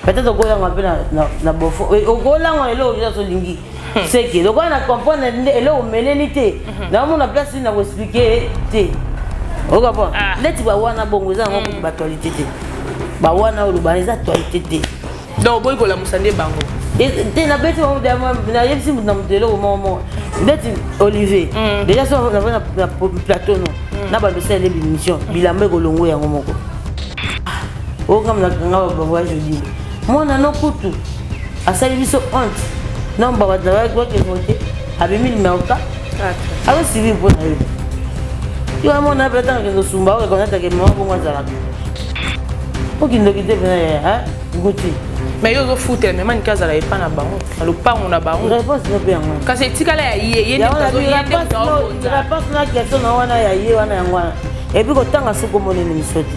peut-être okolangwa mpe na bofo okolangwa eloko oza tolingi seke lokola na comprendre nde eloko omeleli te naomona place nini na koexplike te okapon neti bawana bongo eza yango kutu baactualité te bawana oyo lobana eza actualité te donc oboyi kolamusa nde bango te nabeti nayebisi moto na moto eloko moko moko ndeti olivier déjà so navai na plateau no na bandosala ele bimission bilamba ekolongo yango moko okamna kanga ba baba jodi mwana no kutu asali biso honte non baba travail quoi que vote abimi numéro 4 ayo suivi mpo na yo yo amona mpe atanga kende osumba oyo ekonata ke mama bongo azalaka okindoki te mpena ya guti mais yo ozofutela mema nike azala epa na bango na lopango na bango réponse no mpe yango kasi etikala ya ye ye réponse na question na wana ya ye wana yango wana epuis kotanga soki omoneni miso te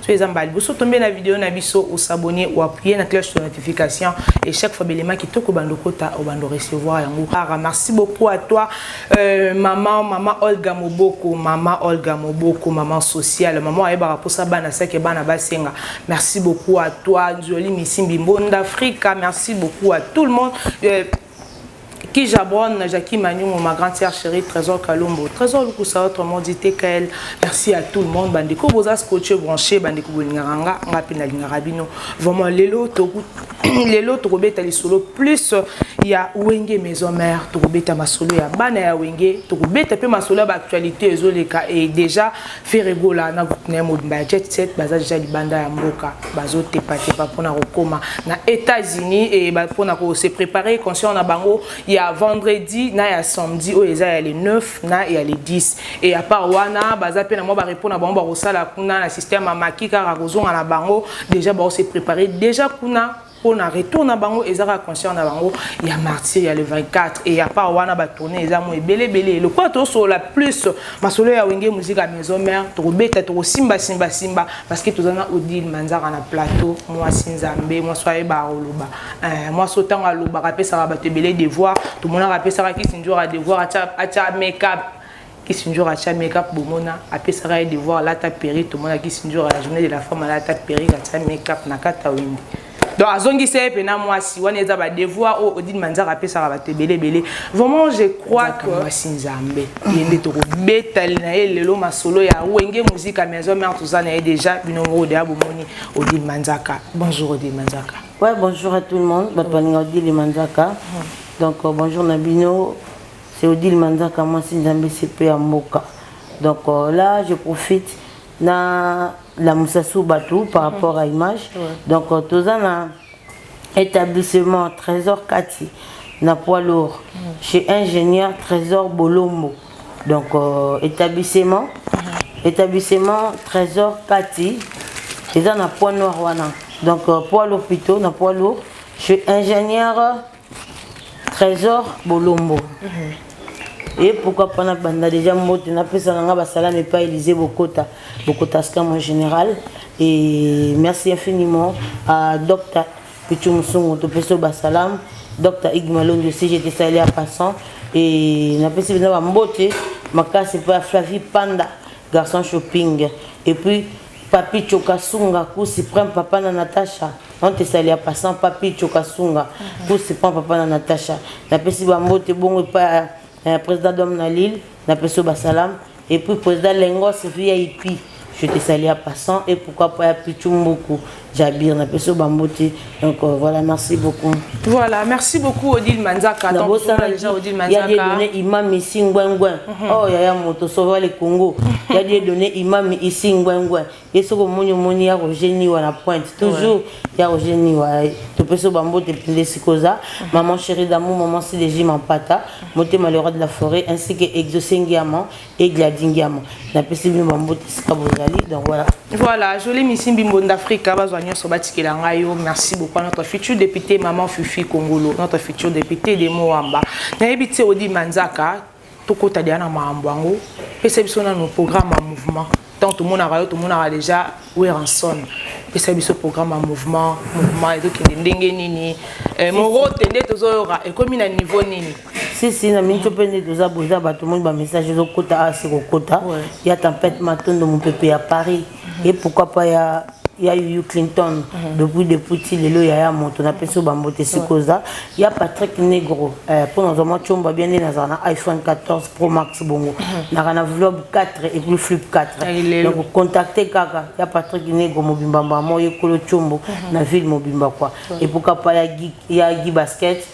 soki eza mbala liboso tombe na video na biso osabone oapuye na cloche de notification et chaque fois belema kitoko bando kota obando recevoir yango kara merci beaucoup à toi euh, maman maman olga moboko maman olga moboko maman sociale maman ayebaka mposa bana seke bana basenga merci beaucoup à toi nzoli misimbi mbonda afrika merci beaucoup à tout le monde euh, Kija Brown, Jackie Manyungu, ma grande sœur chérie, Trésor Kalombo, Trésor Lukusa, autrement dit TKL. Merci à tout le monde. Bandeko boza scotché branché, bandeko bolingaka nga, nga pe nalingaka bino. Vraiment lelo toku lelo tokobeta lisolo plus ya Wenge Maison Mère, tokobeta masolo ya bana ya Wenge, tokobeta pe masolo ya ba actualité ezoleka et déjà Ferre Gola na groupe naye mobimba ya Jet Set baza deja libanda ya mboka bazo tepa tepa pona kokoma na Etats-Unis et ba pona ko se préparer concert na bango ya vendredi na ya samedi oyo eza ya le 9 na ya le 10 et à part wana baza pe na mwa ba repos na bango bakosala kuna na système ya maki kaka kozonga na bango deja bao se préparer deja kuna mpo na retour na bango eza kaka concert na bango ya martyr ya le 24 et ya part wana batourne eza mo ebele ebele lokola tosolola plus masolo ya wenge musique ya maison mère tokobeta tokosimba simba simba parce que toza na odile manzaka na plateau mwasi nzambe mwasi oyo ayebaka koloba eh, mwasi oyo ntango alobaka apesaka bato ebele devoir tomonaka apesaka kisinjora devoir atya make up Kisindjora atia make-up bomona apesaka ye devoir alata perruque tomona Kisindjora la journée de la femme alata perruque atia make-up na kati ya wenge donc azongisa ye mpe na mwasi wana eza badevoir oyo odine manzaka apesaka bato ebele ebele vraiment je crois que mwasi nzambe ye nde tokobetali na ye lelo masolo ya wenge muzika maison mare toza na ye déjà bino moko deya bomoni odine manzaka bonjour odine manzaka ouais bonjour à tout le monde bato balinga odine manzaka donc euh, bonjour na bino C'est Odile Manzaka, moi si Nzambe CP ya mboka. Donc euh, là, je profite na la Moussassou Batou par mhm. rapport à image. Ouais. Donc euh, toza na établissement Trésor Kati na poids lourd mm. chez ingénieur Trésor Bolombo. Donc euh, établissement mm. établissement Trésor Kati eza na poids noir wana. Donc euh, poids lourd plutôt na poids lourd chez ingénieur Trésor Bolombo. Mm -hmm. et pourquoi pas na banda déjà mbote na pesa nanga basala mais pas Élysée Bokota Bokota ska mon général et merci infiniment à docteur Pichu Musungu to peso basalam docteur Igmalondo si j'étais salé à passant et na pesa na mbote makasi pa Flavie Panda garçon shopping et puis Papitcho Kasunga kusi prend papa na Natacha on te salia passant Papitcho Kasunga kusi prend papa na Natacha napesi bambote bongo epai ya président Dom na Lille napesi yo basalam et puis président Lengos VIP je te salia passant et pourquoi pas ya Pichu Mbuku Jabir, na peso bambote. Donc euh, voilà, merci beaucoup. Voilà, merci beaucoup Odile Manzaka. Na bo ça déjà Odile Manzaka. Il y a des données imam ici ngwengwe. Mhm. Oh ya ya moto sauver le Congo. Il y a des données imam ici ngwengwe. Et ce que moni moni ya Roger ni wana pointe. Toujours il y a Roger ni wa to peso bambote pile sikoza. Mhm. Maman chérie d'amour, maman CDJ Mampata, moté malheureux de la forêt ainsi que exaucé Ngiama. Egladi Ngiama na pesi bino bambote esika bozali donc voilà voilà jolie misi mbimbo d'afrika bazwa nyonso batikela ngai yo merci beaucoup à notre future député maman fifi kongolo notre future député de moamba nayebi te odi manzaka tokota deya na makambo yango pesa biso nano programme ya mouvement ntango tomonaka yo tomonaka déjà weranson pesa biso programme ya mouvement mouvement ezokende ndenge nini eh, morote nde tozoyoka ekomi na niveau nini sisi na minso mpe nde toza boza bato moni bamessage ezokota asi kokota ya tempete matondo mopepe ya paris et pourquoi pas ya ya yuyu clinton depuis depuis ti lelo yaya moto napesi yo bambote esika oza ya patrick negro eh, mpo nazwa mwa comba bia nde nazala na iphone 14 pro max bongo mhm. naka na vlob 4 epuis flip 4 donc contacte kaka ya patrick negro mobimba mbamo ye kolo combo mhm. na ville mobimba kua epuka pa ya gi basket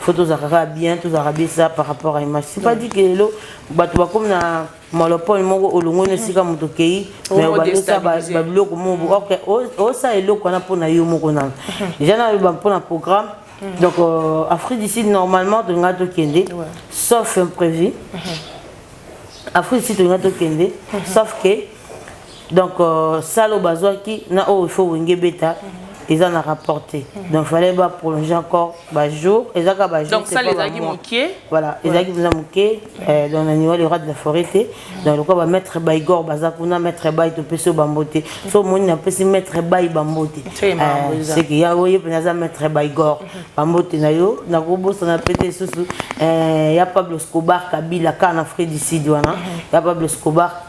faut tozalaka kaka bien tozalaka besa par rapport à image c'est pas dit que lelo bato bakomi na monopole moko olongoni mm. esika moto okei oh, mais obandesa babiloko mobo mm. ok osala eloko wana mpo na yo moko nano mm-hmm. deja naloba mpo na programme mm. donc euh, afrique du sud normalement tolinga tokende sauf imprévu mm-hmm. afrique du sud tolinga tokende mm-hmm. sauf que donc euh, sale oyo bazwaki na oyo il faut wenge ebeta eza na rapport te donc fallait ba prolonger encore ba jour eza ka ba jour donc ça les agi mokie voilà les agi mza mokie euh, donc na niwa le rat de la forêt te donc le quoi ba mettre ba igor baza kuna mettre ba to peso ba mbote so moni na pesi mettre ba ba mbote c'est euh, que ya oye pena za mettre ba igor ba mbote na yo na ko bosa na pete susu euh ya Pablo Escobar Kabila kana Fred Sidi wana ya Pablo Escobar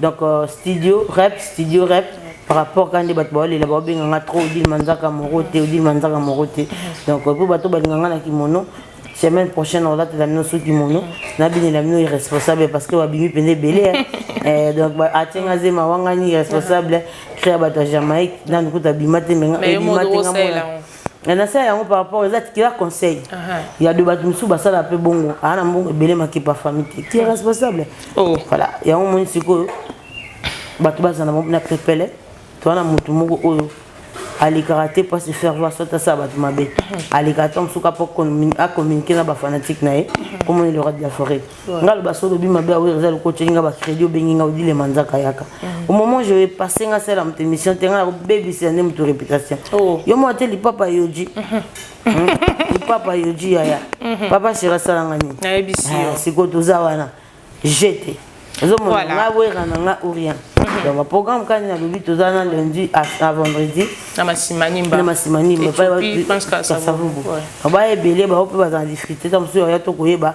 donc euh, studio rep studio rep par rapport kaka nde bato baolela baobenga nga trop odile manzaka moro te odile manzaka moro te donc euh, mpo bato balinga nga na kimono semaine prochaine olatela bino so kimono nabinela bino irresponsable parce que babimi mpenza ebele eh, donc atenga zema wangani irresponsable créa bato ya jamaïque nanu kuta bima te menga ebima te nga mona nasala yango par rapport eza tikela conseil ya de bato mosusu basala mpe bongo aa na mbongo ebele makepa fami te ti responsable oh. voilà yango moni sikoyo bato bazala na pepele toa na motu moko oyo alekaka te mpo asefaire voir soit asala bato mabe alekaka ntango mosuku apo acommunike na bafanatique na ye omoni le roi de la forêt nga loba so lobi mabe ya wera eza lokola otyoki nga bacrédit obengi nga odile manzaka yaka au moment je vais passer nga sala moto émission te nga nakobebisela nde moto réputation oh. yo mwa te lipapa yoji mhm. hmm? lipapa yoji yaya mhm. papa shere asala nga nini ah, sikoyo toza wana jete ozomona nga wera na nga orien mhm. donc baprogramme kani nalobi toza na lundi à vendredi na masimanimba baye ebele bango mpe bazala difficulté ta mosusu yaya tokoyeba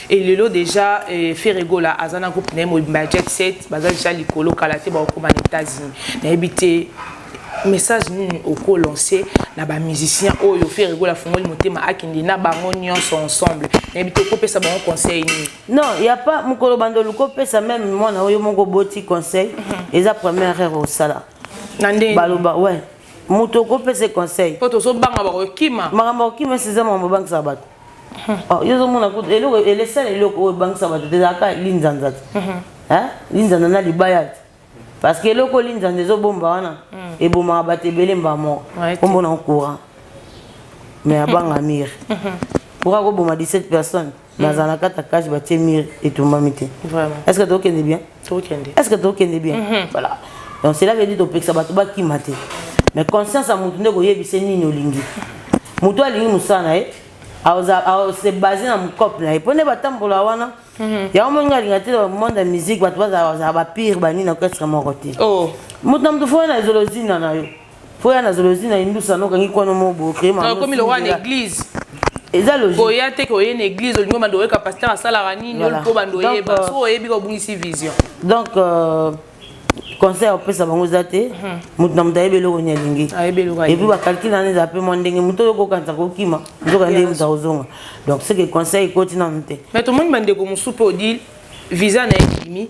et lelo déjà euh, Ferre Gola aza na groupe na ye mobimba jet set baza déjà likolo kala te bakokoma na États-Unis nayebi te message nini oko lancer na ba musiciens oyo Ferre Gola afungoli motema akende na bango nyonso ensemble nayebi te okopesa bango conseil nini non ya pas mokolo bando luko pesa même mwana oyo moko boti conseil mhm. eza première erreur osala na ndenge baloba ouais moto okopesa conseil po tozobanga bakokima makambo akokima esi eza makambo obangisa bato Oh, yo ozomona kutu eloko elesala eloko oyo ebangisa bato te ezalaka linzanza te linzanza na libaya te parce que eloko linzanza ezobomba wana mm. ebomaka bato ebele mbaa moko kombo na courant mais abanga mire pourquoi koboma 17 personnes nazala na kati ya cage batie mire etumbami te est ce que tokende bien tokende est ce que tokende bien mhm. voilà donc cela veut dire topekisa bato bakima te mais conscience ya motu nde koyebisa nini olingi motu alingi mosala na ye se base na mokope na ye mpo nde batambola wana mhm. yango moni nga alinga te monde ya musique bato bazala bapire banini na orchestre moko te oh. moto na moto fo na ezolozina na yo po ya nazolo ozwi na indusa nokangi kwano mo bocree makomi lokola na église eza logique oya te koye na église olingi bando oyeka pasteur asalaka nini oyo mpo bando oyeba euh, so oyebi kobungisi vision donc euh, conseil opesa bango eza te mhm. moto na moto ayebi eloko nini alingi epuis bakalkile nani eza mpe mwa ndenge moto oyo kokanisa kokima nzoka ndenge moto akozonga donc seke conseil ekoti nanu te mais tomoni bandeko mosusu mpe odi visa na ye ebimi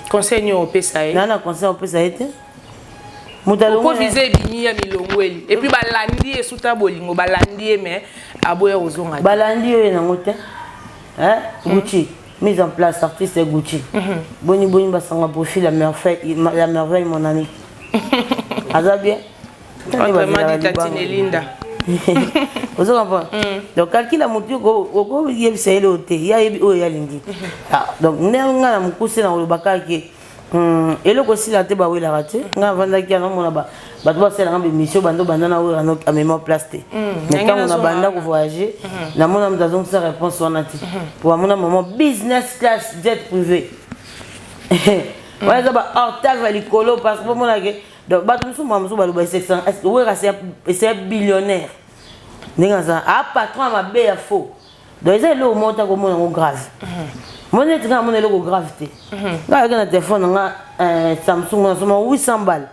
conseil nini opesa ye naa na conseil opesa ye te okovize ebimi ya milongweli epuis mm. balandi ye suta bolingo balandi ye mais aboya kozonga te balandi yo ye nango te mm. gucci mise en place artiste ya gucci mm-hmm. boni boni basanga profil ya merveille mon ami aza bien entre madi tatine linda ozo comprendre mm. donc kalkila motu okoyebisa ye leo te ye ayebi oyo ye alingi mhm. ah, donc ndenge ngai na mokuse na koloba kaka ke hmm, eloko esila te bawelaka te ngai avandaki anamona bato basalelaka bemission bando banda na oyo ano amema place te mm. mais ntango na banda kovoyage mhm. namona moto azongisa réponse wana te mhm. po bamona mama business class jet privé wana eza ba hortave ya likolo parce que bomonake donc bato mosusu mbala mosusu baloba wera ese billionnaire ndenge aza a patron ya mabe ya faux donc eza eloko moko ta komona yango grave moni neti ngai amona eloko grave te ngai ayaki na telefone na nga eh, samsung nasoma 800 bale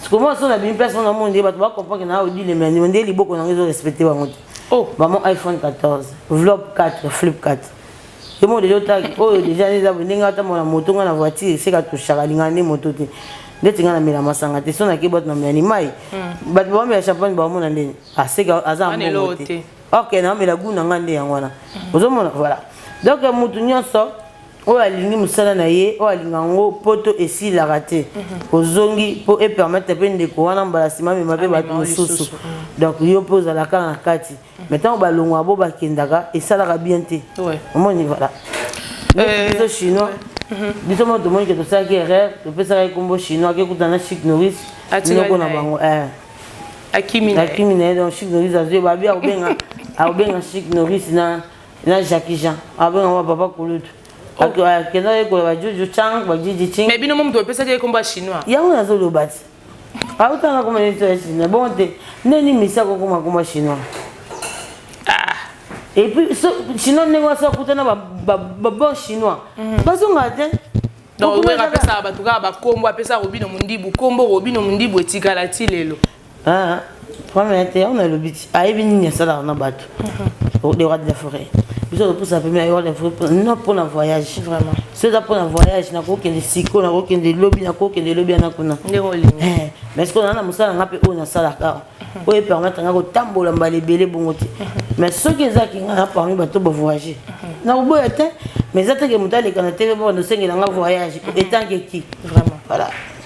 sikomona so na bimi place wana moni nde bato bacomprendre na odile mani nde liboko na ngai ezorespecte bango te oh. bamo iphone 14 vlog 4 flip 4 Yo mo lelo ta oyo deja neza bo ndenge ata mona moto nga na voiture seka tushaka linga ni moto te. Ndeti nga na mela masanga te sona ke bot na mela ni mai. Hmm. Bat ba mela champagne ba mona ndeni. Ah seka aza mbongo te. Ok na mela goût na nga nde yango wana. Hmm. Ozo mona voilà. Donc moto nyonso oyo alingi mosala na ye oyo alinga yango mpo to esilaka te mhm. ozongi mpo epermettre mpe ndeko wana mbala nsima amema mpe bato mosusu donc yo mpe ozalaka na kati mais ntango balongwa bo bakendaka esalaka bien te omoni voilà euh, biso chinois mhm. biso moko tomoni ke tosalaki erreur topesaka ye nkombo chinois akekutana chik noris noko na bango eh. akimi na ye donc chik noris azwi babi akobenga akobenga chik noris na na jacqui jean akobenga wa papa kulutu oh. akenda yekola bajuju chang bajiji ching mais bino mo moto opesaki ye nkombo ya chinois yango nazoloba ti autanga koma neti ya chinois bongo te ndeni misi akokoma koma chinois ah. et puis so, chinois ndenge wasi akuta na babon chinois mhm. bazonga te donc wera apesaka bato kaka bakombo apesaka robino mondibu kombo robino mondibu etikala ti lelo ah. Problème na te, on a le but. Ayebi nini asalaka na bato. Mhm. Le roi de la forêt. biso topusa pembe ayewa na vrai non mpona voyage vraiment so eza mpona voyage nakokende siko nakokende lobi nakokende lobi yana kuna eh, mais sikoyo naa na mosala nga mpe oyo nasalaka awa mhm. oyo epermettre nga kotambola mbala ebele bongo te mhm. mais soki ezalaki nga na parmi bato bavoyage mhm. nakoboya te mais eza teke moto aleka na tv bobanda osengela nga voyage etanke ki voilà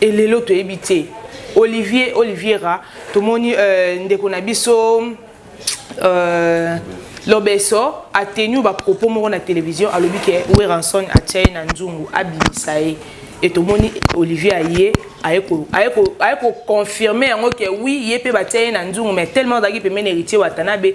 et lelo toyebi te olivier oliviera tomoni euh, ndeko na biso euh, lobeso atenu bapropos moko na télévision alobi ke weranson atya ye na nzungu abimisa ye e tomoni olivier aye aye koconfirme yango ke wi ye mpe batya ye na nzungu mais tellement azalaki pembeni héritier watanabe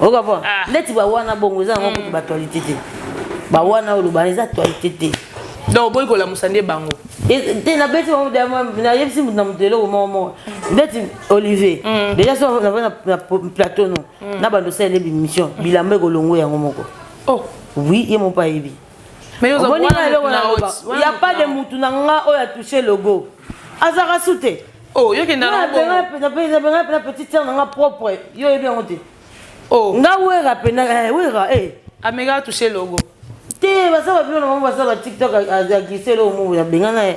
okapona ah. ndeti bawana bongo eza yango kutu batualité te bawana olobana eza tualité te donc oboyi kolamusa nde bango te nabeti bango nayebisi moto na moto eloko moko moko ndeti olivier mm. déjà so navai na plateau no mm. na bando osalele bimission bilamba ekolongo yango moko oh. oui ye moko ayebi ya pas de mutu na nga oyo atouche logo azaka su te oh, na petite sœur na nga propre yo oyebi yango te oh. nga wera pena eh, wera eh. ameka atouche logo te baza babino na bango baza batiktok aglise eloo mobo ya bengana ye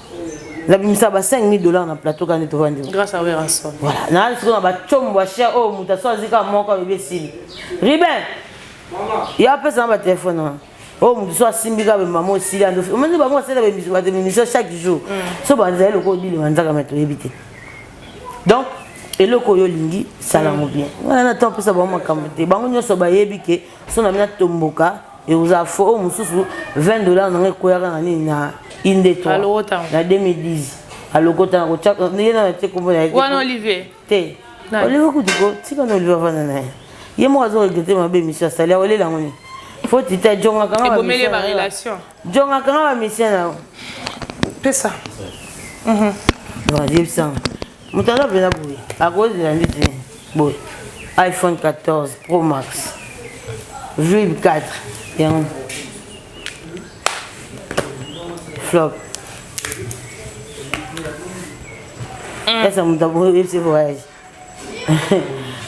na bimisa ba 5000 dollars na plateau kani to vandi grâce à Werrason voilà na siko na ba chombo ya cher oh muta so azika moko bebe sili Ruben mama ya pesa na ba téléphone wana oyo moto so asimbi kaka bamama osili ando omoni bango basala baemission chaque jour mm. so banzala eloko obilima nzaka me toyebi te donc eloko oyo olingi salango mm. bien wana na ntango opesa bango makambo te bango nyonso bayebi ke so na bino atomboka Ekoza fo oyo mosusu 20 dollars na ngai ekoyaka na nini na inde 3 na 2010 alokota na kotia ye na tie kombo na ye wana olivier te olivier kutu ko tika na olivier avanda na ye ye moko azo regrete mabe emission asali akolela yango nini fo tita jongaka nga ebomeli ba relation jongaka nga ba mission na yo pesa mhm yebisanga moto aza mpenza boye akozela nde te boye iphone 14 pro max vib 4 yango flop esa moto aboyebisi voyage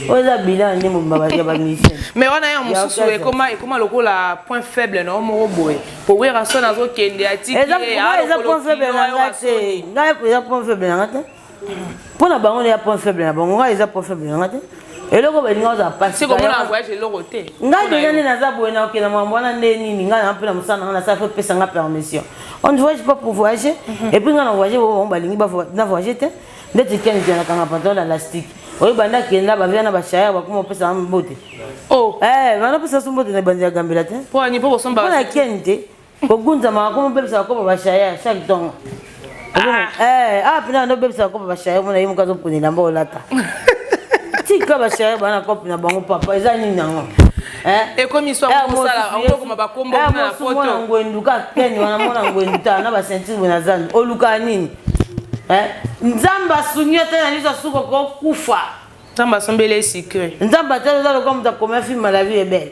oyo eza bilan nde mobimba ya bamisio mais wana ya mosusu ekoma lokola point faible na yo moko boye po werrason azokende atikieza point faible na ngai te ngai eza point faible na ngai te mpo na bango nde ya point faible na bango ngai eza point faible na ngai te eloko balinga ozala pasi komona voyage eloko te ngai deja nde naza boye na okenda makambo wana nde nini ngai na mpe na mosala nanga nasala fopesa nga permission on ne voyage pas pour voyager mhm. et puis ngai na voyage bango balingi na voyage te ndeti ken jana kanga pantalon na lastique oyo banda akenda bavia na bashaya bakoma opesa mbote oh. eh, banda opesa so mbote na ebandi ya gambela te mpona ken te kogunzama akoma obebisa bakoma bashaya chaque tongo ah. eh, ah, mpena banda obebisa bakoma bashaya omona ye moka azopona elamba olata tika bashaya bana kope na bango papa eza nini yango eh? ekomi swaokoma bakombo na foto ngwendu ka ken wana mona ngwendu ta na basentire bwe na zando olukaa nini Eh? nzambe asungi yo te na liso asuka okokufa nzambe asombeli ye sucre nzambe atala oza lokola moto akomia film à la vie ebele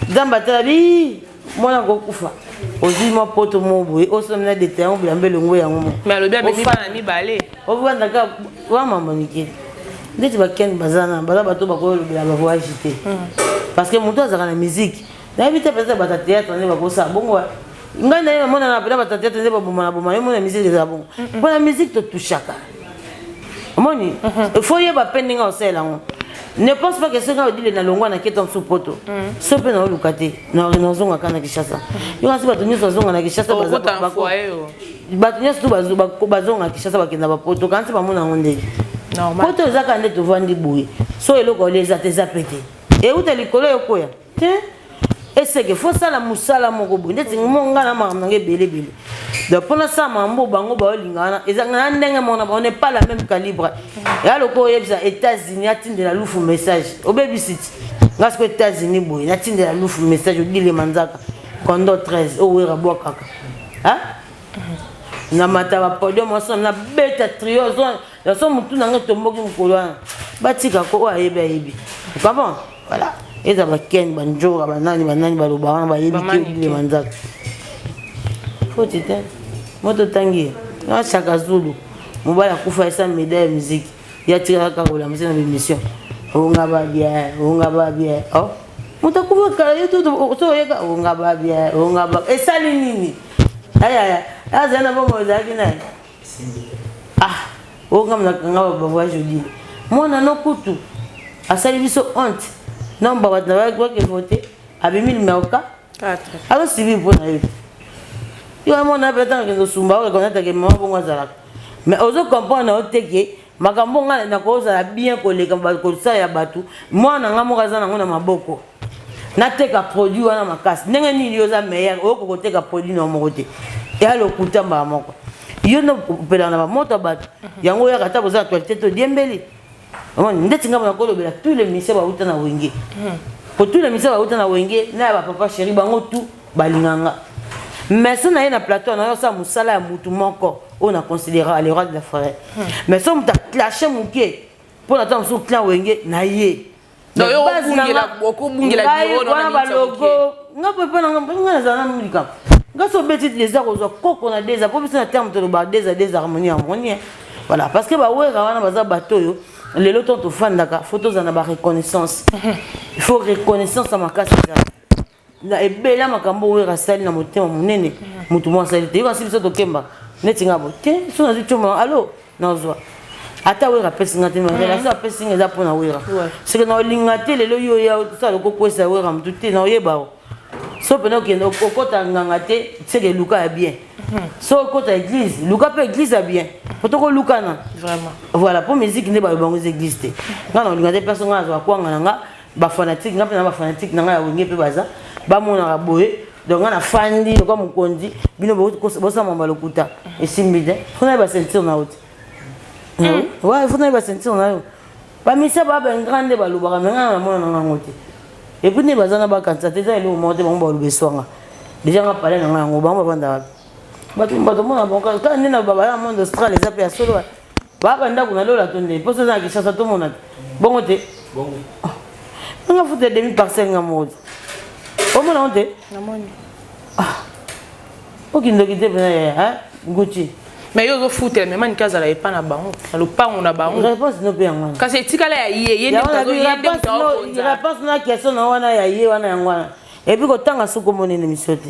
nzambe atala bi mwana kokufa ozwi mwa poto moko boye osomina dete yango bilamba elongo yango mo me alobi amemi bana mibale ofanda kaka wa mama nike ndeti bakende baza na baza bato bakoyolobela bavoyage te hmm. parce que moto azalaka na miziki nayebi te peut-être bata théâtre nde bakosala bongo ngai naye namonana pena bata théâtre nde babomana bomana omona musique ezala bongo mpo na musique totushaka omoni mhm. faut yeba mpe ndenge osalela yango ne pense pas que soki ngai odile nalongwa na keta mosusu poto mhm. so mpe naoluka te nazonga kaka na kinshasa yo kasi bato nyonso bazonga na kinshasa bato nyonso tu bazonga kinshasa bakenda bapoto kansi bamona yango ndenge poto ezaka nde tovandi boye so eloko olia eza te eza mpe te euta likolo ekoya Hein? eseke fo sala musala moko boye ndeti mo ngai na makambo nange ebelebele donc mpo nasala makambo oyo bango baolinga wana eza na ndenge mona bango ne pas la même calibre ya lokola oyebisa états-unis atindela lufu message obebisi ti ngai siko états-unis boye natindela lufu message odile manzaka kondo 13 owera bwakaka na mata bapodium osona nabeta trio ya so mutu na ngai etomboki mokolo wana batika ko oyo ayebi ayebi okabon voilà eza bakeni banjora banani banani baloba wana bayebi te bilema nzaka foti te moto tangi na chaka zulu mobali akufa esa medaille ya miziki ye atikaka kaka kolamusi na bemission onga babia onga babia oh. moto akufa kala ye tutu so oyeka onga babia onga babia esali nini ayaya azali na bomoi ezalaki naye ah oyo nga mna kanga ba voix joli mwana no kutu asali biso honte non ba bato na ba kwa ke voter abimi numéro 4 azo sibi mpo na yo yo mwana pe tanga kendo sumba o reconnaître ke maman bongo azalaka mais ozo comprendre na yo te ke makambo nga nakozala bien koleka kosala ya bato mwana nga moko aza nango na maboko nateka produit wana makasi ndenge nini yo oza meilleur oyoki koteka produit na moko te eya lokuta mbala moko yo nde opelaka na bamoto ya bato mhm. yango oyaka ata boza na actualité te odiembeli ndeti ngai mona kolobela tous les ministère bauta na wenge mhm. po tous les ministère bauta na wenge na ya bapapa chéri bango tout balinga nga mais so naye na plateau nayo asala mosala ya mutu moko oyo na considera le roi de la forêt hmm. mais so moto aclashe moke mpo na ntango mosusu clan wenge na ye wana balogo nga mpe mpo nanga mpe nga nazala na likambo nga so obeti deza kozwa koko na deza mpo biso na terme toloba deza deza harmonie harmonie voilà parce que bawera wana baza bato oyo lelo ntango tofandaka fo tozala na bareconnaissance il faut reconnaissance ya makasi ezala na ebele ya makambo oyo Werra asali na motema monene motu moko asali te yo kasi biso tokemba neti nga boye te so nazwi tioma alo nazwa ata wera apesi nga te relation mhm. apesi nga eza mpo na wera soki naolinga te lelo yo oya osala okokwesa wera motu te naoyeba o so mpena okende okota nganga te seke luka ya bien mhm. so okota église luka mpe église ya bien po tokolukana voilà mpo miziki nde bayo bango eza église te nga naolinga te place nga nazwa kwanga na nga ba fanatique nga mpe na ba fanatique na nga ya wenge mpe baza bamonaka boye donc nga nafandi lokola mokonzi bino bosama balokuta esimbi te fona ye basentire na yo te wa fona ye basentire na yo bamisa babengra nde balobaka me nga namona na ngango te epuis nde baza na bakanisa te eza eloko moko te bango baloba eswanga deja nga pale na nga yango bango bavanda wapi bato mona bango kaka nde na babala na monde austral eza mpe ya solo wapi Baba ndako na lola to nde posa na Kinshasa to mona te. Bongo te. Bongo. Oh. Nga futa demi parcelle nga modi. O mona on te? Na moni. Ah. O kindoki te pena ya, hein? Gucci. Mais yo zo futa mais mani kaza la epa na bango. Na lopango na bango. Réponse no pe yango. Kasi etikala ya ye, ye nde tazo yende tazo. Réponse na question na wana ya ye wana yango wana. Et puis kotanga soko monene misio te.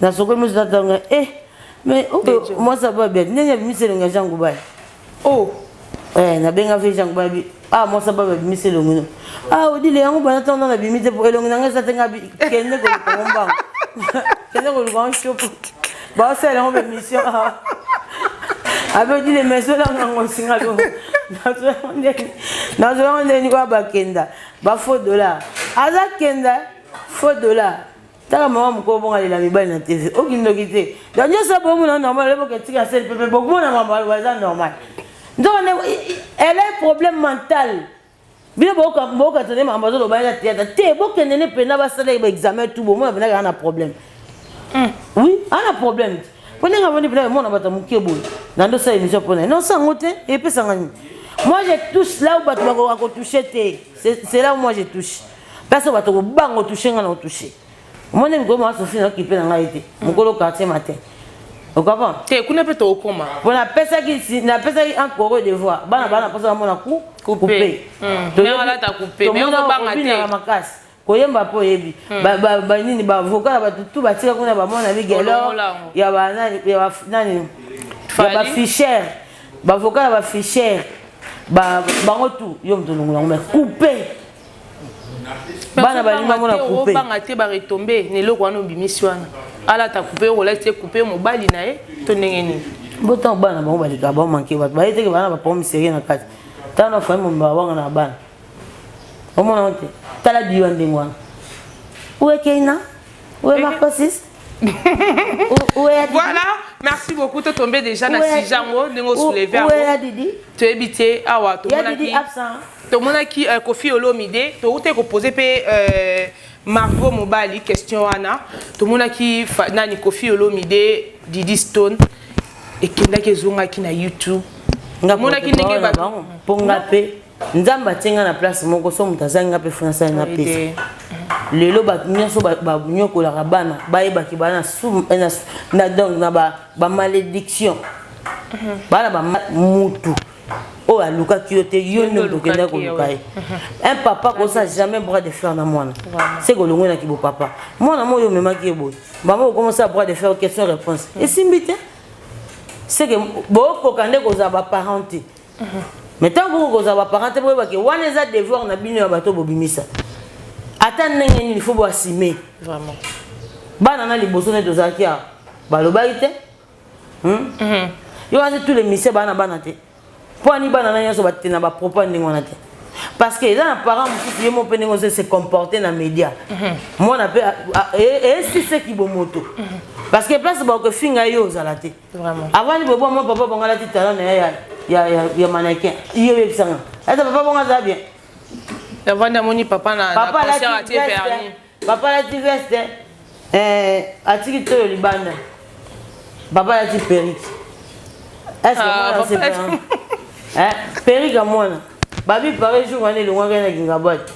Na soko musu na tanga eh mais oh moi ça va bien. Nene bimiselo nga jangu ba. Oh. Eh na benga fe jangu ba bi. Ah moi ça va bien bimiselo ngino. Ah odile yangu bana tanga na bimite po elongi nanga sa tenga bi kende ko ko mba. Kende ko ko shop. Ba sa la ngombe mission. Abe odile meso la ngango singa do. Na zo nde. Na zo nde ni kwa bakenda. Ba faux dollar. Aza kenda faux dollar. Taka maman mukolo bonga lela mibali na TV. Oki ndoki te. Donc nyo sa bomu na normal lebo ke tika sel pepe boku mona mambo aloba eza normal. Ndoka ne elle a un problème mental. Bino boka boka tone mambo azo loba ya theater. Te boke nene pena ba sala ba examen tout bomu na pena kana problème. Mm. Oui, ana problème. Pona nga vandi pena mona bata muke boye. Na ndo sa emission pona. Non sa ngote epesa ngani. Moi je touche là où batu bako toucher te. C'est là où moi je touche. place oyo bato kobanga otouche ngai na otouche omoni mikolo mwa sofi naokipe na ngai te mokolo quartier matin okaba te kuna mpe tokoma mpo napesaki napesaki un koro devoir bana bana mposa bamona ku kupe tomonaka makasi koyemba mpo oyebi banini bavoka na bato tu batika kuna bamona migelor ya banani ya bafichere bavoka ya bafichere bango tu yo moto olongola yango me coupe bana balingi bamona coupe obanga te ba retombe na eloko wana obimisi wana alata coupe okolaki te coupe mobali na ye to ndenge nini bo ntango bana bango baleka bamanke bato baye teke bana bapromi serie na kati ntango na fami momba wanga na bana omona ngo te tala biwa ndenge wana uekeina uemakosis voilà merci beaucoup to tombe déjà na sujet yango ndenge osouleve yango toyebi te awa tomonaki tomonaki euh, kofi olomide towutaki kopose mpe euh, margot mobali question wana tomonaki nani kofi olomide didi stone ekendaki ezongaki na youtube nga monaki ndenge ba mpo nga mpe nzambe atie nga na place moko so moto azangi nga mpe fo nasali nga pesa lelo bato nyonso banyokolaka bana bayebaki bana na donc na bamalédiction bana ba mutu oyo alukaki yo te yo nde okenda koluka ye un papa kosa jamais bras de fer na mwana se kolongwe na kibo papa mwana mo oyo omemaki ye boye mama okomosala bras de fer question réponse esimbi te seke bokoka nde kozala baparent te mais ntango boko kozala baparent te boyebake wana eza devoir na bino ya bato bobimisa ata ndenge nini fo boasime bana na liboso nde tozalaki awa balobaki te hmm? mhm. yo wana tous les mise bana bana te mpo ani bana na nyonso bate na bapropos ya ndenge wana te parce que eza na parent mosusu ye mo mpe ndenge ozo se comporter na média mhm. mwana mpe esiseki bomoto mhm. parce que place bakofinga ye ozala te Vraiment. Avant ni bobo moi papa bonga la ti talent na ya ya ya, ya mannequin. Iyo yebisa nga. Ata papa bonga za bien. Avant na moni papa na papa na concert atie vernis. Papa la ti veste. Eh, atiki toyo libanda. Papa la ti perruque. Est-ce que ah, moi c'est pas? Hein? Perruque à moi. Babi pareil jour on est loin na Gingabati.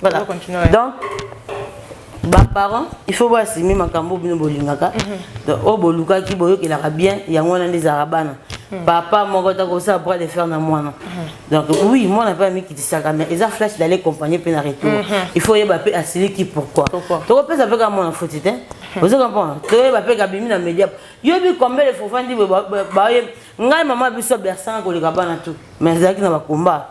Voilà. Donc, ba parents il faut voir si même makambo bino bolingaka mhm. donc o oh, bolukaki boyokelaka bien yango wana nde ezalaka bana mhm. papa moko takosala bras de fer na mwana mhm. donc oui mwana mpe amikitisaka mais eza flash d'aller accompagner mpe na retour il faut oyeba mpe asiliki pourquoi tokopesa mpe kaka mwana foti te ozo comprendre toyeba mpe kabimi na media yoyebi combien de fofandi baye ngai mama biso bersanga koleka bana tout mais ezalaki na bakomba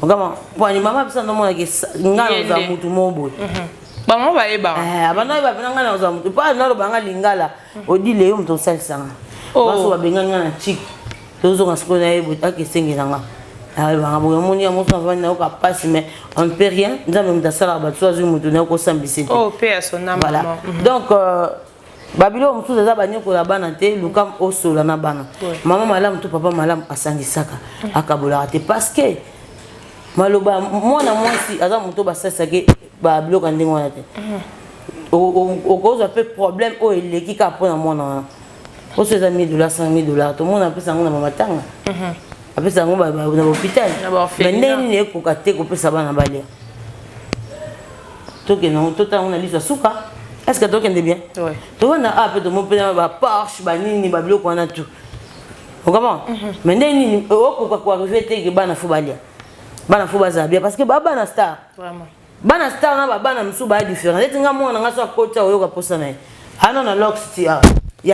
okama pwani mama bisa ndomona ke nga naza mutu moko boye mhm. bango bayebaka eh, abanda oyeba pena nga naza mutu mpo naloba nga lingala mhm. odile yo moto osalisanga oh. baso babengani nga na chik tozonga sikoyo na ye boye aka esenge na nga ayebanga boye omoni ya mosu avandi na yoka mpasi mais on peut rien nzambe moto asalaka bato so azwi moto na yokosambisa te oh, mhm. donc euh, babiloko mosusu eza banyokola bana te lukam osola na bana mama malamu to papa malamu asangisaka akabolaka te parce que maloba mwana mwasi aza moto basalisaki babiloko ya ndenge wana te mhm. okozwa mpe problème oyo eleki kaka mpo na mwana wana oso eza 1000 dollars 5000 dollars tomona apesa yango na mamatanga mhm. apesa yango na bahopital me ndenge nini ekoka te kopesa bana balia tokende yango totala yango na liso ya suka est ce que tokende bien tovanda a mpe tomopela baporsche banini babiloko wana tout okama mhm. mais ndenge nini okoka koarrive te ke bana fo balia bana fo bazala bien parce que babana star bana star na babana mosusu baya différent neti nga mwana nga so akoti aoyoka mposa na ye ano na lox ti ya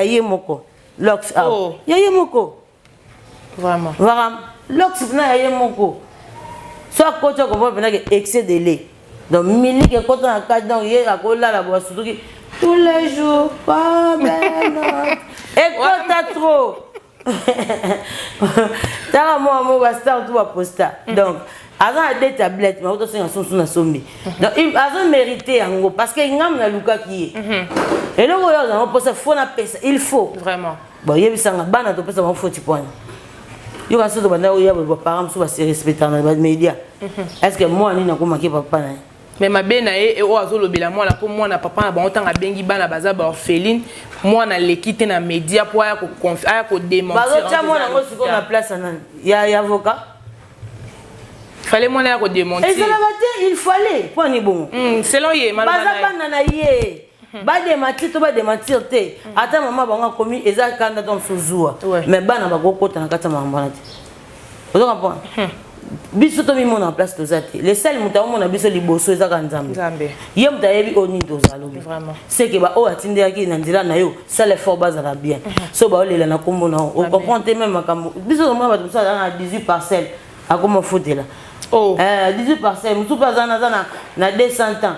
ye moko lox oh. ya ye moko Vraiment. Vraiment. Lox na ya ye moko. So akoti okomona mpenza ke excès de lait. Donc miliki ekota na kati donc ye akolala boye asutuki tous les jours pas même. Ekota trop. Tala mwa mwa ba star tout ba posta. Mm. Donc aza na deux tablettes mais otosenga sosu na sombi. Mm. Donc azo mériter yango parce que ngambo na lukaki ye. Mm-hmm. Eloko oyo azango posa faut na pesa il faut. Vraiment. Bon, yebisanga bana topesa bango foti pwani yoka soki tobanda oya ba parents mosusu baserespectana ba média mhm. est ce que mwana nini akomaki papa na ye me mabe na ye oyo azolobela mwana mpo mwana papa na bango ntango abengi bana baza baorpheline mwana aleki te na média mpo aya kodemantibazotia mwana yango sikoyo na place ya nani ya avocat fallait mwana ya kodemantir ezalaka te il fallait mpo ani bongo hmm, selon ye baza bana na ye Hmm. ba démentir to ba démentir te hmm. ata mama bango akomi eza kanda to mosusu zuwa mais bana bakokota na kati ya makambo wana te ozo comprendre hmm. biso tomimona place toza te le sel moto akomona biso liboso ezaka nzambe ye moto ayebi oyo nini tozalobi seke baoyo atindelaki na nzela na yo sala effort bazala bien so baolela na nkombo na yo ocomprendre te meme makambo biso tomona bato mosusu azala na 18 parcelle akoma ofutela 18 parcelle mosusu mpe aza na 200 ans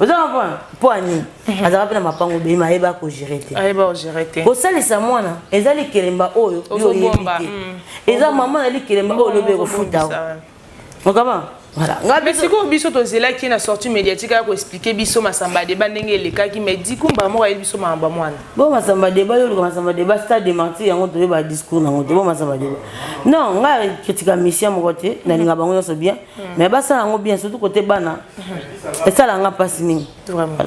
oza comprendre mpo ya nini mhm. azalaka mpe na mapango be ma ayeba kogere te ayeba kogere te kosalisa mwana eza likelemba oyo oyebi te mm. eza mama na likelemba oyo olobi ekofuta okama mais sikoyo biso tozelaki na sortie médiatique ya koexplike biso masamba deba ndenge elekaki mais dikumba moko ayebi biso makambo ya mwana bo masamba deba yo oluka masamba deba stade de martir yango toyeba discours nango te bo masamba deba non ngai kritika mission moko te nalinga bango nyonso bien mais basala yango bien surtout kote bana esala nga mpasi mingi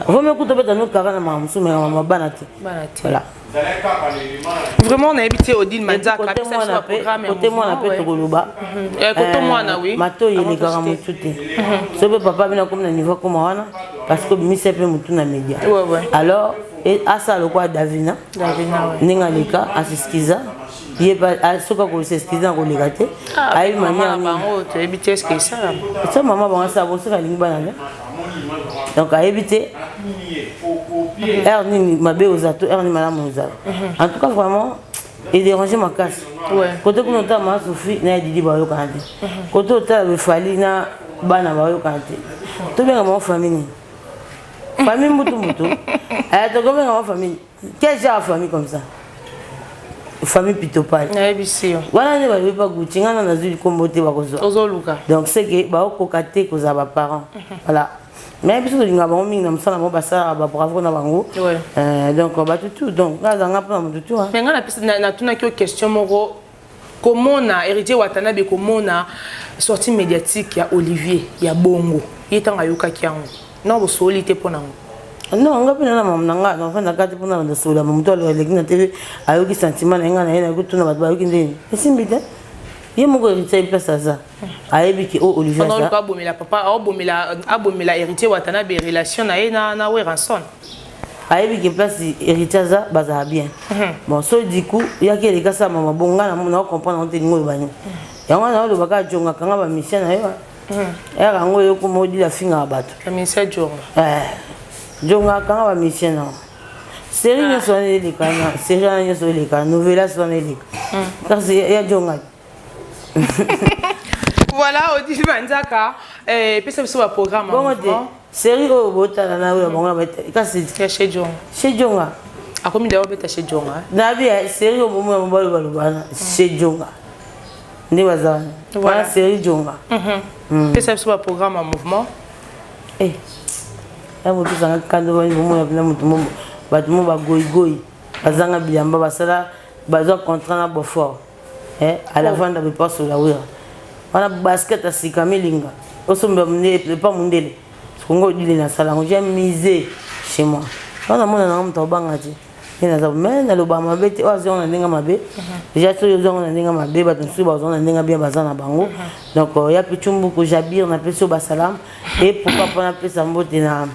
vome kuta beta no kara na mama mosusu mekama ma bana te voilà vraiment nayebi te odile manzakakote mwana mpe tokoloba mato elekaka motu te so mpe papa bino akomi na niveau akoma wana parce que obimisa mpe motu na media alors asala lokola davina ndenge aleka asiskiza ye ah, soki akoseskize na koleka te ah, ayebi maniabango toyebi te eske esalama so mama bango asala bo soki alingi bana te donc ayebi te heure nini mabe oza to heure nini malamu ozala mhm. en tout cas vraiment edérange makasi kote kuna otala ma sofi na ya didi bayokana te mhm. kote otala befali na bana bayokana te tobenga bango famille nini famille mbutu mbutu aya tokobenga bango famille Quel genre famille comme ça famille pitopale nayebisi yo wana nde bayebi pa guti ngai na nazwi likombo te bakozwa ozoluka donc ce que baokoka te kozala baparent mhm. voilà mais biso tolinga bango mingi na mosala bango basalaka babravo na bango euh, donc batutu donc ngai azanga mpona motutu mais ngai natunaki yo question moko komona heritier watanabe komona sortie médiatique ya olivier ya bongo ye ntango ayokaki yango na bosoli te mpo na yango non nga mpe nana mama na ngai nafanda kati mpo nabanda solola moto aleki na tv ayoki sentiment na ye ngai na ye nayoki tuna bato bayoki ndeni esimbi te ye moko héritier ayebi place aza ayebi ke o olivier abomela papa abomela héritier watanabe relation na ye na weranson ayebi ke place héritier aza bazala bien mhm. bon so du coup yaki eleka sa mama bon nga na comprendre yango te lingo oloba nini mhm. yango wana oloba kaka jongaka nga bamisien na yo mhm. yaka yango oyoko modila afingaka bato eh, jongaka nga bamisien na yo seri ah. nyonso wana eleka na seri wana nyonso eleka novelas wana eleka kasi ya jongaki voilà odile manzaka eh, epesa biso baprogramme bongo te série oyo botala na oyo ya bango kasi chez jonga chez jonga akomi dawa beta chez jonga nabi ya série oyo momo ya mobali baloba wana chez jonga nde baza wana wana série jonga mhm. hmm. pesa biso baprogramme ya mouvement eh, ya moto ezanga kando bani bomona mpena moto mo bato mo bagoigoi bazanga bilamba basala bazwa contrat na beaufort eh alavanda oh. bipaso la wira wana basket asika milinga osomba mundele pa mundele kongo odile na sala ngo j'ai misé chez moi wana mona na moto obanga ti ye naza me naloba mabe te oyo oh, azonga na ndenge mabe deja soki ozonga na ndenge mabe bato mosusu bazonga na ndenge bien baza na bango donc euh, ya pichumbuku jabir napesi oyo basalamu e pourquoi mpo napesa mbote na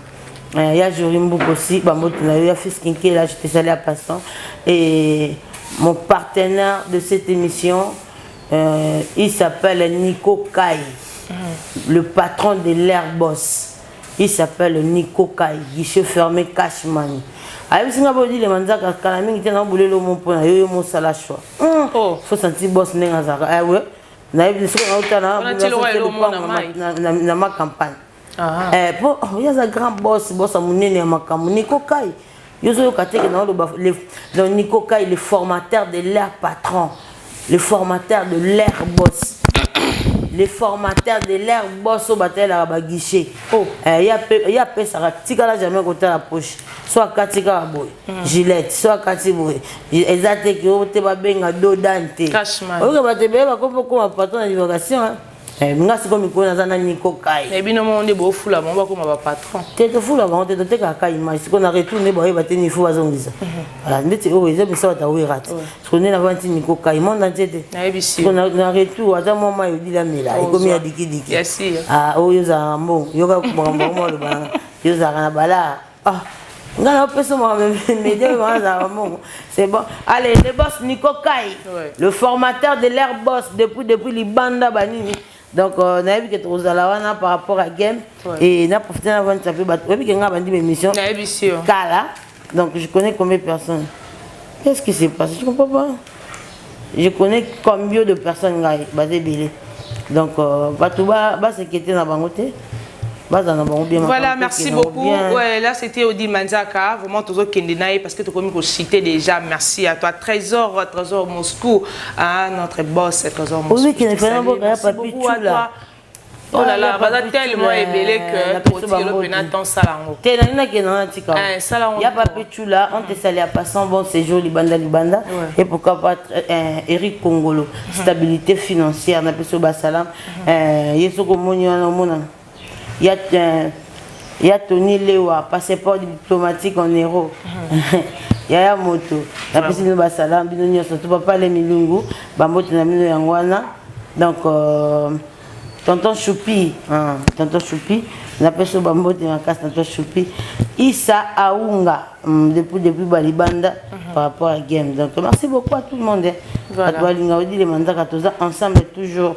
Euh, ya Jory Mbuku aussi, Bambote Nayo, ya Fils Kinke, là j'étais salé à passant. Et mon partenaire de cette émission, euh, il s'appelle Nico Kai, mm. le patron de l'Air Boss. Il s'appelle Nico Kai, guichet fermé Cashman. ayebisi nga bodi le manzaka kala mingi te na bolelo mo mpo na yo yo mosala choix hmm. oh. fo santi bos ndenge azalaka ewe eh, nayebi soki nautana na macampagne Ah. Eh, po oh, ye aza grand boss boss ya monene ya makambo niko kai yo ozoyoka te ke naoloba donc niko kai le formateur de leur patron le formateur de leur boss le formateur de leur boss oyo batalelaka baguichet oh. eh, ye apesaka tikala jamais kotala poche so akati kaka boye hmm. gilette so akati boye eza te ke oyo te babenga dodan te oyoka bato ebele bakoma patron na divagation Eh, nga sikoyo mikolo naza na niko kai eh, bino moko nde bofula bango bakoma bapatron te tofula bango te totekaka kai image sikoyo na retour nde baoyeba te nifo bazongisa mhm. voilà ndeti oyo oh, eza biso bata werate sikoyo nde nava nti niko kai monde antie te siko na retour ata mwa mai odila mela ekomi ya dikidiki ah, oyo ozalaka mbongo yoka makambo yango maloba nanga yo ozalaka na balaa Ah, nga na pesa mwa media mwa za mongo. C'est bon. Allez, le boss Nico Kai, ouais. le formateur de l'air boss depuis depuis Libanda Banini. donc euh, nayebi ke tokozala wana par rapport à game et na profite na vandisa mpe bato oyebi ke ngai bandi baémission kala donc je connais combien de personnes qu'est ce qui se passe je comprends pas je connais combien de personnes ngai baza ebele donc euh, bato basekete na bango te baza na bango bien voilà merci beaucoup ouais, là c'était odi manzaka vraiment tozokende na ye parce que tokomi kosite déjà merci à toi trésor trésor moscou ah, notre boss trésor moscou Oh là là, baza tellement ebele que kotilo pena temps sala ngo. Te na nina kena na tika. Eh sala ngo. Ya ba petula on te sali à passant bon séjour libanda libanda et pourquoi pas euh, Eric Kongolo mhm. stabilité financière na peso ba salam. Mhm. Euh yeso ko moni wana mona. Ya euh, ya toni lewa passeport diplomatique en euro yaya moto napesi bino basala bino nyonso to bapale milungu bambote na bino yango wana donc euh, tonton choupi hein, tonton choupi napesi yo bambote makasi tonton choupi isa aunga mm, depuis depuis balibanda mhm. par rapport à game donc merci beaucoup à tout le monde bato balingaka odile manzaka toza ensemble toujours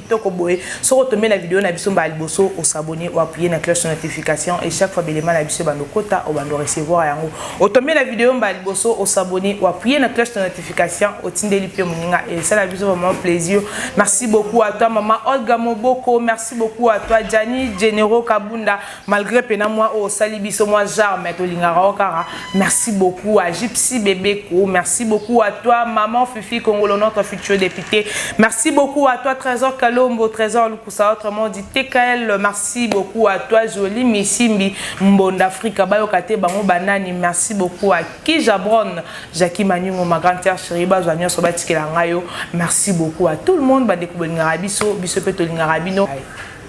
toko boye soko tombe na video na biso mbala liboso osabone oapuye na cloche ya notification et chaque fois belema na biso ebanda okota obanda orecevoir yango otombe na video mbala liboso osabone oapuye na cloche ya notification otindeli mpe moninga esala biso vraiment plaisir merci beaucoup à toi maman olga moboko merci beaucoup à toi jani genero kabunda Malgre pena moi oyo osali biso moi genre mais tolingaka yo kaka merci beaucoup à Gypsy Bebeko merci beaucoup à toi maman Fifi Kongolo notre future députée merci beaucoup à toi Trésor Kalombo Trésor Lukusa autrement dit TKL merci beaucoup à toi Jolie Misimbi Mbonda Afrika bayoka te bango banani merci beaucoup à Kijabron Jackie Maningo ma grande sœur chérie bazwa nyonso batikela ngai yo merci beaucoup à tout le monde bandeko bolingaka biso biso mpe tolingaka bino